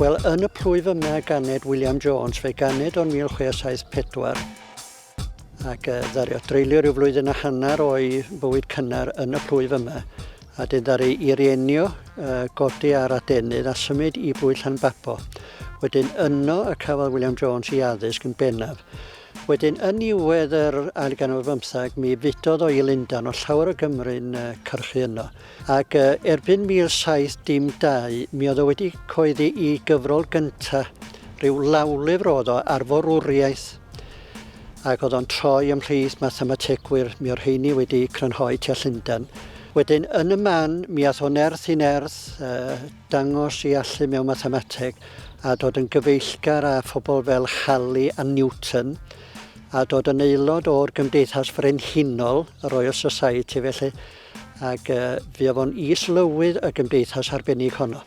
Wel, yn y plwyf yma ganed William Jones, fe ganed o'n 1674, ac uh, ddario dreulio rhyw flwyddyn a hanner o'i bywyd cynnar yn y plwyf yma, a dyn ddari i rienio uh, godi ar adenydd a symud i bwy Llanbabo. Wedyn yno y cafodd William Jones i addysg yn bennaf. Wedyn, yn niwedd yr ail ganol bymthag, mi fudodd o i Lundan o llawer o Gymru'n uh, cyrchu yno. Ac erbyn 1712 mi oedd o wedi coeddi i gyfrol gynta, rhyw lawlyfr oedd o ar forwriaeth, ac oedd o'n troi ymhlith mathemategwyr, mi o'r rheini wedi crynhoi tua Llundain. Wedyn, yn y man, mi ath o nerth i nerth, uh, dangos i allu mewn mathemateg, a dod yn gyfeillgar â phobl fel Halley a Newton, a dod yn aelod o'r Gymdeithas Frenhinol, y Royal Society, felly Ac uh, fi oedd o'n is-lywydd y gymdeithas arbennig honno.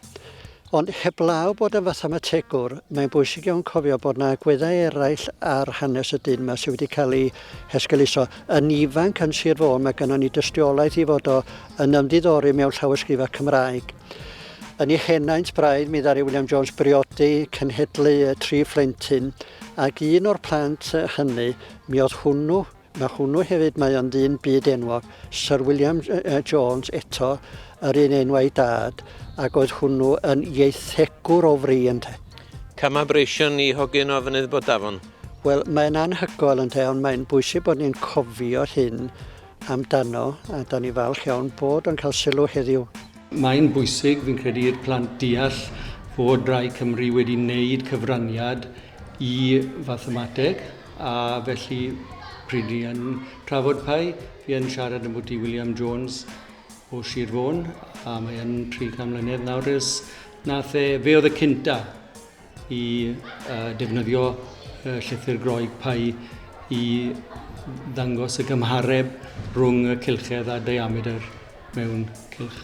Ond heblaw bod yn fathemategwr, mae'n bwysig iawn cofio bod yna agweddau eraill ar hanes y dyn yma sydd wedi cael ei hesgeluso. Yn ifanc yn Sir Fôn, mae gennym ni dystiolaeth i fod o yn ymddiddori mewn llawysgrifau Cymraeg. Yn ei henaint braidd, mi ddari William Jones briodi cenhedlu tri phlentyn, ac un o'r plant hynny, mi oedd hwnnw Mae hwnnw hefyd, mae o'n ddyn byd enwog, Syr William Jones eto, yr un enw a'i dad, ac oedd hwnnw yn ieithegwr o fri ynte. Cama breision i hogyn o Fynydd Bodafon. Wel, mae'n anhygoel ynte, ond mae'n bwysig bod ni'n cofio hyn amdano, a da ni falch iawn bod o'n cael sylw heddiw. Mae'n bwysig, fi'n credu, i'r plant deall fod Rai Cymru wedi wneud cyfraniad y fathemateg, a felly pryd ni yn trafod pau, fi yn siarad ambwti William Jones o Sir Fôn, a mae yn 30 mlynedd nawr ers nath e, fe oedd y cynta i uh, defnyddio uh, llythyr Groeg pau i ddangos y gymhareb rhwng y cilchedd a diameter mewn cilch.